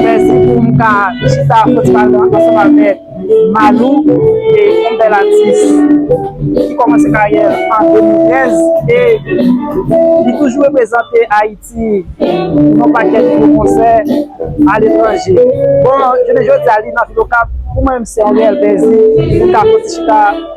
Mèsi pou m ka chita festival la ansanm avèk Malou e yon bèl atis ki kòmanse karyè l an 2015 e li toujou reprezante Ayiti pou yon pakèt gwo konsè aletranje. Bon, jounen jodi a li nan Vil Okap, pou mwen menm se yon reyèl plezi pou m ka fè yon ti chita.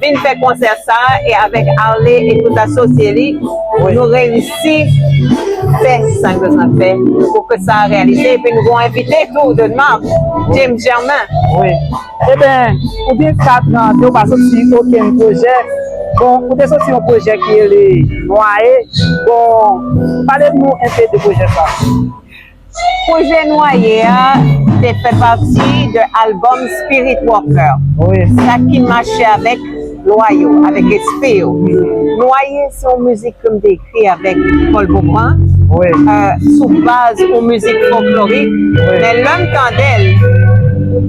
Vin fè konsè sa e avèk Arly e tout asosye li nou reyisi fè sa n bezwen fè pou ke sa reyalize epi nou gon envite tou de nmab James Germain. Wi eben ou gen 4 an ke ou pa soti okenn pwojè bon ou te soti yon pwojè ki rele Nwaye bon pale nou enpe de pwojè sa. Pwojè Nwaye a te fè pati de albòm Spirit Walker, sa ki mache avèk lwa yo, avèk espri yo. Nwaye se yon mizik ke m te ekri avèk Pòl Bofan, sou baz yon mizik fòklorik, men lè m tande l,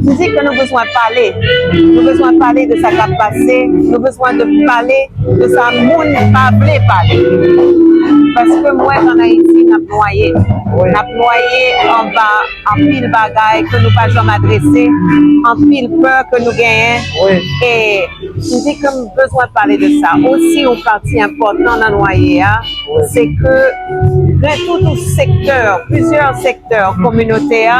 m di ke nou bezwen pale, nou bezwen pale de sa k ap pase, nou bezwen de pale de sa moun pa vle pale. Paske m wè an Ayiti n ap. nwaye. N ap nwaye anba anpil bagay ke nou pa janm adrese, anpil pè ke nou genyen. E m di ke m bezwen pale de sa. Osi yon pati enpòtan nan nwaye a, se ke gen tout yon sektè, plizyè sektè kominote a,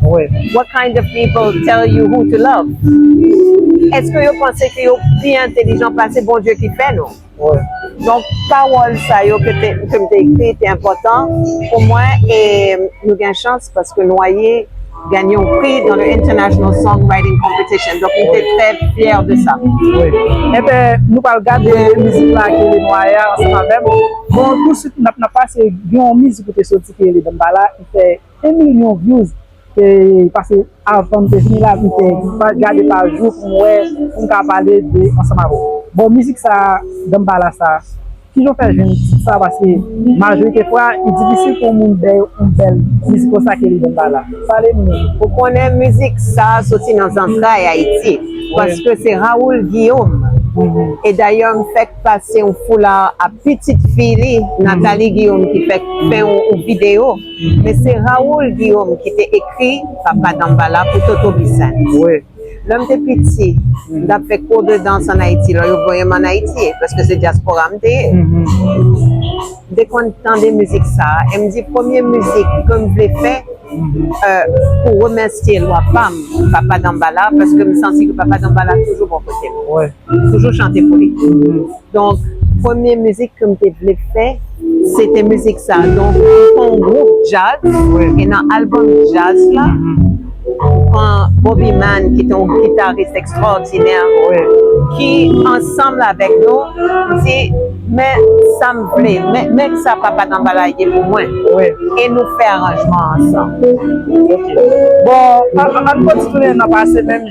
What kind of people tell you who to love? Eske yo panse ke yo pi entelijan pase Bondye ki fè nou? Donk pawòl sa yo ke m te ekri te enpòtan pou mwen e nou gen chans paske Noye genyen yon pri nan le International Song Writing Competition donk m te trè fyè de sa. Enben nou pral gade mizik la ki rele Noye a ansanm avè m. Bon tousuit n ap pase gen yon mizik ki te soti ki rele Danmbala ki fè 1 million views pase avanm te vini la m te gade pa jou pou m wè pou m ka pale de ansanm avèw bon mizik sa danmbala sa kijan w fè jwenn tit sa paske majorite fwa li difisil pou yon moun bèw yon bèl mizik konsa ke li danmbala pale m nou. Ou konnen mizik sa soti nan zantray ayiti paske se Raoul Guillaume e dayè m fèk pase yon foulard a pitit fi li Nathalie Guillaume ki fèk fè yon video. Men se Raoul Guillaume ki te ekri Papa Dambala pou Toto Bissainthe. Wi. Lè m te piti, m t ap fè kou de dans ann Ayiti lò yo voye m ann Ayiti, paske se dyaspora m te ye. M te konn tande mizik sa a e m di premye mizik ke m vle fè pou remèsye lwa pa m, Papa Dambala, paske m santi ke Papa Dambala toujou bò kote m. Wi. M toujou chante pou li. Donk premye mizik ke m te vle fè se te mizik sa. Donk m pran yon gwoup djaz e nan albòm djaz la m pran Boby Man ki te yon gitaris ekstwòdinè ki ansanm avèk nou m di men sa m vle, men sa Papa Danbala ye pou mwen e nou fè aranjman ansanm. Ok. Bon, an n kontinye nan pase menm.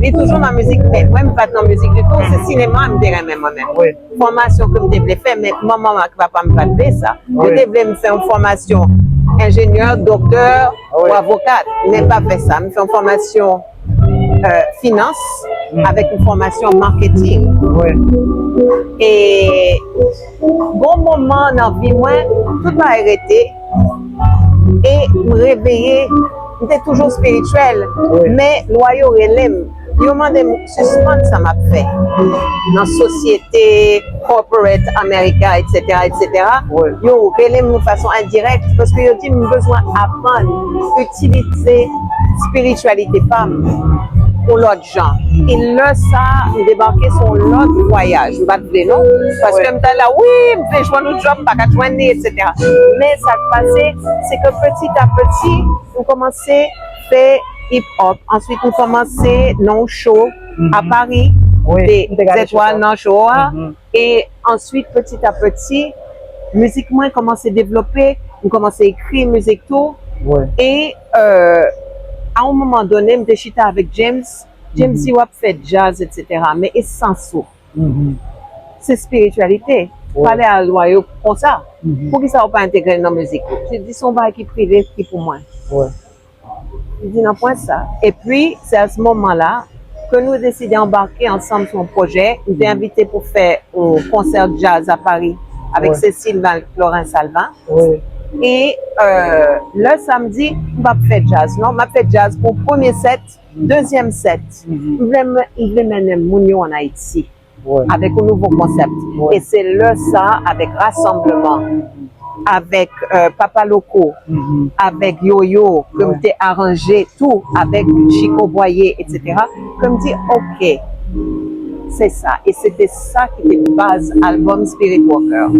Li toujou nan mizik men mwen m pat nan mizik ditou se sinema m te renmen mwen menm fòmasyon ke m te vle fè men manman m ak papa m pat vle sa yo te vle m fè yon fòmasyon enjenyè, doktè ou avokat men m pa fè sa m fè yon fòmasyon finans avèk yon fòmasyon marketing e Gon moman nan vi mwen tout bagay rete e m reveye m te toujou spirityèl men lwa yo relem yo mande m sispann sa map fè nan sosyete corporate America etc etc yo relem yon fason endirèk paske yo dim m bezwen aprann itilize spirityalite pam pou lòt jan. E lè sa a, m debake sou yon lòt vwayaj. M pa t vle non. Paske m ta la, wi, m vle jwenn yon djòb, m pa ka jwenn li, eksetera. Men sa k pase, se ke petitapeti, m kòmanse fè hip hop. Answit m kòmanse nan yon show a Pari, m te zètwal nan show a. E answit peti a peti mizik mwen kòmanse devlope, m kòmanse ekri mizik tou e a on moman done m te chita avèk James, James di wap fè djaz etsetera men esans ou se spirityalite, pale a lwa yo konsa poukisa ou pa entegrel nan mizik ou, se di son bagay ki prive ki pou mwen. Di nan pwen sa. Epi, se a s moman la ke nou deside anbake ansanm sou yon pwojè. M te envite pou fè yon konsè djaz a Pari avèk Cécile Marie-Florence Salvin. E lè sa m di, m p ap fè djaz non, m ap fè djaz pou premye sèt, dezyèm sèt. M vle mennen moun yo an Ayiti. avèk yon nouvo konsèp e se lè sa avèk rasanbleman avèk papa loko avèk yoyo ke m te aranje tou avèk chiko bwaye etc ke m di ok se sa e se te sa ki te baz albòm spirit walker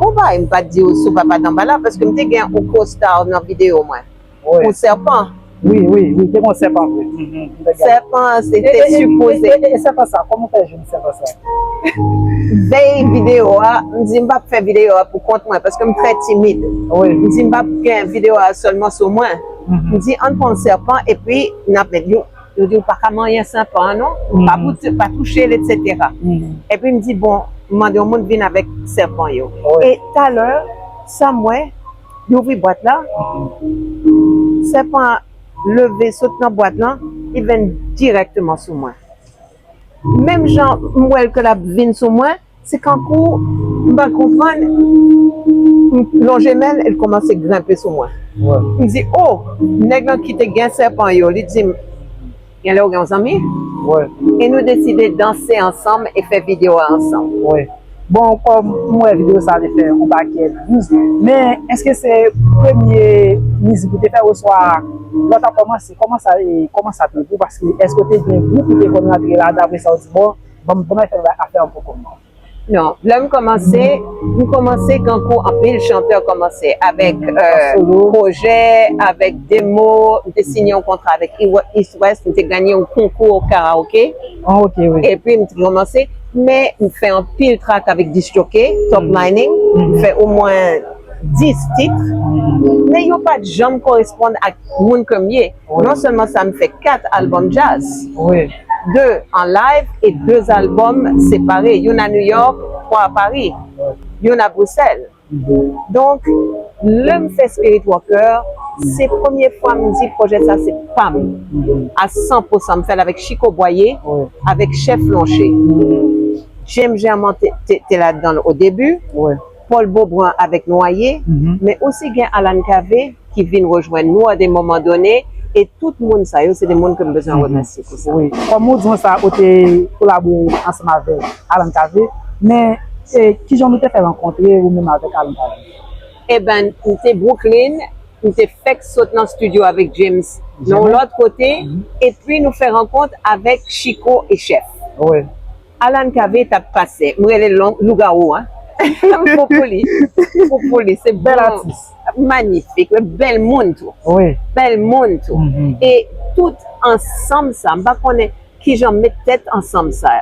konbay m pa t di w sou papa danbala paske m te gen yon co star nan video mwen. pou sèpan. Wi, wi, wi, te gen yon sèpan vre. Sèpan an se te sipoze. E sèpan sa, kòman ou fè jwenn sèpan sa? Vèy videyo a, m di m pa p fè videyo a pou kont mwen, paske m trè timid. M di m pa p gen videyo a sèlman sou mwen. M di ann pran sèpan epi n ap met. Yo di ou pa ka manyen sèpan an non, ou pa touche l etsetera. Epi m di bon, m mande yon moun vin avèk sèpan yo. E talè, sa m wè. Li ouvri bwat la, sèpan an leve sot nan bwat lan, li vin dirèkteman sou mwen. Menm jan m wè l ke l ap vin sou mwen, se kankou m pa konprann, m lonje men l e l kòmanse grenpe sou mwen. M di, O! Nèg lan ki te gen sèpan yo, li di m. Gen lè ou gen yon zanmi? Wi. E nou deside danse ansanm e fè video a ansanm? Wi. Bon kòm m wè video sa te fè yon pakèt views, men eske se premye mizik ou te fè oswa lè w t ap kòmanse kòman sa e kòman sa te pou paske eske w te gen gwoup ou te konn rantre ladan apresa w di bon banm fè yon afè an poukò m? Non, lè m kòmanse, m kòmanse tankou anpil chantè kòmanse, avèk pwojè, avèk demo, m te siyen yon kontra avèk East West, m te ganye yon konkou karaoke, epi m te kòmanse, men m fè anpil trak avèk Disk Jockey, Top Mining, m fè omwen 10 titre, men yo pa t janm koresponn ak moun ke m ye. Non sèlman sa m fè 4 albòm jazz, 2 an live e 2 albòm separe, youn a New York, 3 a Paris, youn a Bruxelles. Donk lè m fè Spirit Walker, se premye fwa m di pwojè sa se pa m a 100 pou 100. M fè l avèk Chico Boyer, avèk Chef Lonché. James Germond te ladan l odebi. Paul Beaubrun avèk Noye, men osi gen Alan Cavé ki vin rejwenn nou a de moman done e tout moun sa yo se de moun ke m bezwen remèsye pou sa. Wi, kòm ou di mwen sa, ou te kolabore ansanm avèk Alan Cavé, men kijan nou te fè rankontre ou menm avèk Alan Cavé? Eben, m te Brooklyn, m te fèk sot nan studio avèk James nan yon lòt kote, epi nou fè rankont avèk Chico e Chèf. Wi. Alan kave tap pase m rele lougawou an pou pou li pou pou li se bon magnifik wi bèl moun tou bèl moun tou e tout ansanm sa m pa konnen kijan met tèt ansanm sa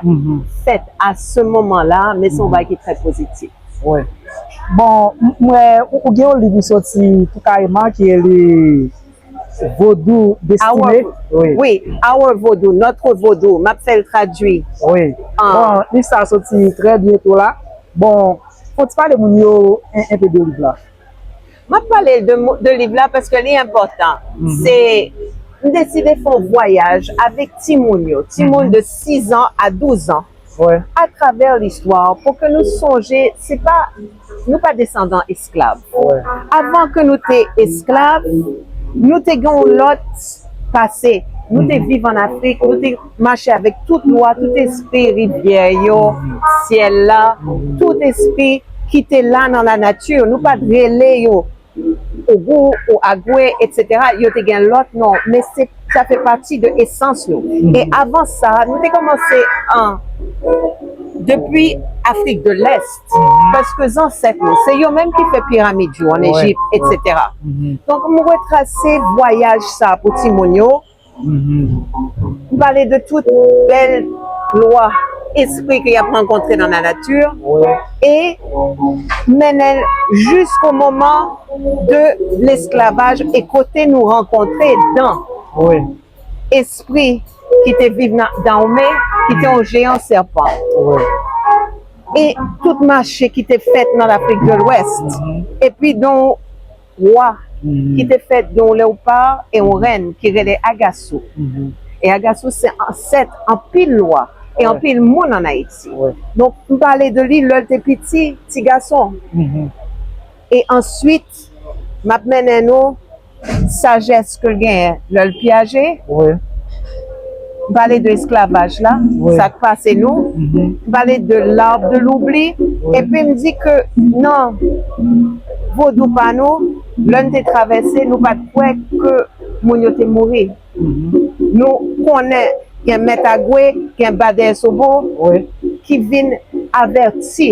fèt a se moman la men son bagay ki trè pozitif. Wi bon m wè ou gen yon liv ou soti tou kareman ki rele. Vodou destine wi our vodou notre vodou map fèl tradwi wi bon liv sa soti trè byento la bon fon ti pale moun yo enpe de liv la. Map pale de liv la paske li enpòtan se m deside fon vwayaj avèk timoun yo timoun de 6 ans a 12 ans atravè listwa pou ke nou sonje se pa Nou pa desandan esklav. Avan ke nou te esklav, nou te gen yon lòt pase. Nou te viv an Afrik, nou te mache avèk tout lwa, tout espi rivyè yo, syèl la, tout espi ki te la nan lanati. Nou pa t rele yo Ogou, ou Agwe, etc. Yo te gen lòt non, men se sa fè pati de esans nou. E avan sa, nou te kòmanse an depi Afrik de Lèst, paske zansèt nou, se yo menm ki fè piramid yo an Ejipt, etc. Donk, m retrase vwayaj sa pou timoun yo. Ou pale de tout bèl lwa espri ke yap rankontre nan la nati e mennen jis o moman de lesklavaj e kote nou rankontre dan espri ki te viv nan Dahomey ki te yon jeyan sèpan e tout mache ki te fèt nan Lafrik de Lwès e pi don Wa, ki te fèt de yon lewpar e yon rèn ki rele Agasou. E Agasou se ansèt anpil wa e anpil moun an Ayiti. Donk, m pale de li lè l te piti, ti gason. E answit, m ap mennen nou sajès. Ske l genyen lè l pyaje? Wi. M pale de esklavaj la, sa k pase nou, m pale de l'arbre de l'oubli epi m di ke nan vodou pa nou, lè n te travèse nou pa t kwè ke moun yo te mouri. Nou konnen gen mèt agwe, gen badè sobo ki vin avèti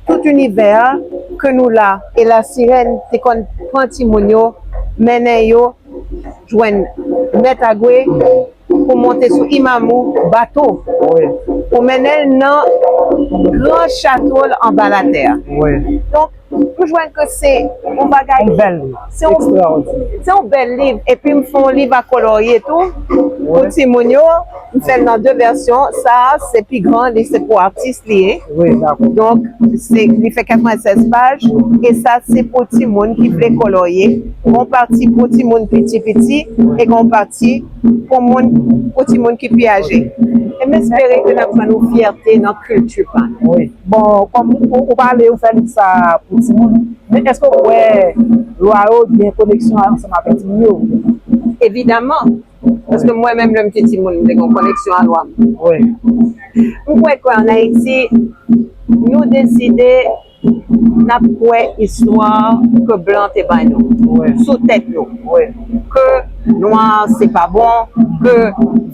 tout inivè a ke nou la e la sirèn te konn pran timoun yo mennen yo jwenn mèt Agwe pou monte sou Imamou bato pou mennen l nan gran chato l anba latè donk nou jwenn ke se yon bagay se yon bèl liv epi m fè yon liv a kolorye tou pou timoun yo. M fè l nan 2 vèsyon, sa a se pi gran li se pou atis li ye. Donk se li fè 96 paj e sa se pou timoun ki vle kolorye. Gon pati pou timoun piti piti e gon pati pou moun pou timoun ki pi aje. E m espere ke n ap jwenn yon fyète nan kilti pa nou. Bon kòm ou pale ou fè liv sa a pou timoun, men èske ou kwè lwa yo gen koneksyon ansanm avèk timoun yo? Evidaman! Paske mwen menm lèm te timoun m te gen yon koneksyon a lwa m. M kwè ke an Ayiti nou deside n ap kwè istwa ke blan te bay nou sou tèt nou. Ke nwa se pa bon, ke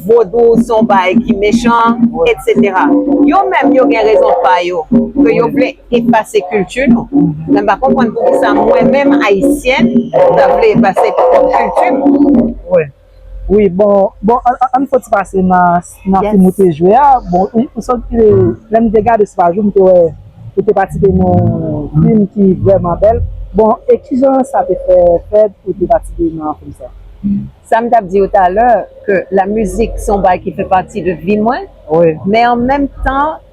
vodou se yon bagay ki mechan, etc. Yo menm yo gen rezon pa yo ke yo vle. efase kilti nou. Mwen pa konprann poukisa mwen menm ayisyèn m ta vle efase pwòp kilti m. Wi bon bon ann fè ti pase nan fim ou te jwe a bon ou santi ke lè m te gade se pa jou m te wè ou te patisipe nan yon fim ki vrèman bèl bon e kijan sa te fè fèt pou w te patisipe nan fim sa. Sa m t ap di ou talè ke la mizik se yon bagay ki fè pati de vi mwen men an menm tan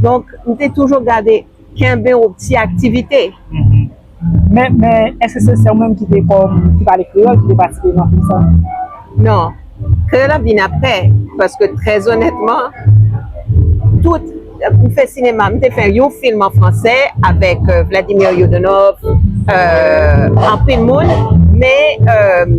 Donk m te toujou gade kenbe yon ti aktivite. Men, men, èske se sè w menm ki te kòm, ki pale kreyòl ki te patisipe nan kou sa? Non. Kreyòl la vin aprè, paske trèzonètman, tout, m fè sinema, m te fè yon film an fransè avèk Vladimir Yudunov, anpil moun, men,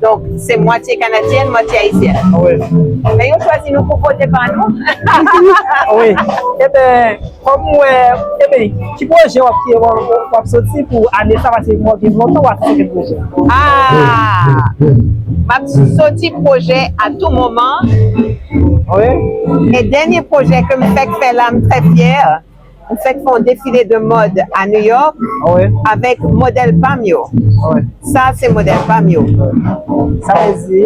Donk se mwatye kanadyèn mwatye ayisyèn. Wi. Men yo chwazi nou pou vote pa nou. Wi. Eben kom ou wè eben ki pwojè wap ki wap soti pou ane sa paske mwen gen lontan wap soti pwojè. Aah map soti pwojè a tou moman. Wi. E dènye pwojè kem fèk fè la m trè fyè. M fèk fè yon defile de mòd a New York avèk modèl pa m yo. Sa a se modèl pa m yo. Sa vle di?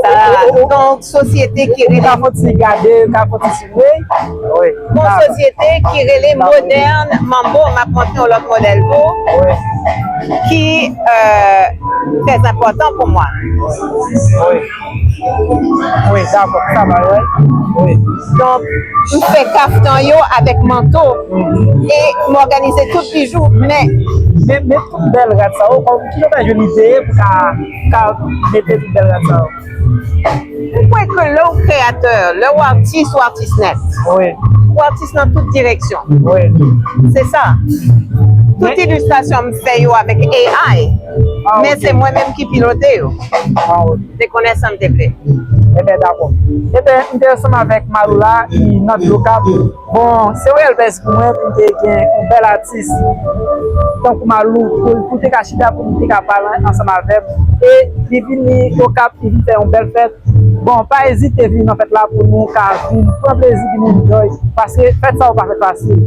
Sa a yon sosyete ki rele. Ou ka fè yon ti gade, ou ka fè yon ti souvni. Yon sosyete ki rele Modern Mambo. M ap montre yon lòt modèl tou ki trèzenpòtan pou mwen. Wi dakò sa bay wè wi donk. M fè kaftan yo avèk manto e m òganize tout bijou men. Men men tout bèl rad sa yo kòman kijan w ta jwenn ide pou ka ka mete tout bèl rad sa yo. M kwè ke lè w kreyatè lè w atis ou atis nèt wi ou atis nan tout direksyon wi se sa tout ilistrasyon m fè yo avèk AI men se mwen menm ki pilote yo. Waw, m te konnen sa m te vle. Enben dakò. Enben m te ansanm avèk Malou la ki nan dlo kap. Bon se yon rèl bèz pou mwen pou m te gen yon bèl atis tankou Malou pou l te ka chita pou m te ka pale ansanm avè m e li vini Okap li vin fè yon bèl fèt. Bon pa ezite vini nan fèt la pou nou ka vin pran plezi vin enjoy paske fèt sa yo pa fèt fasil.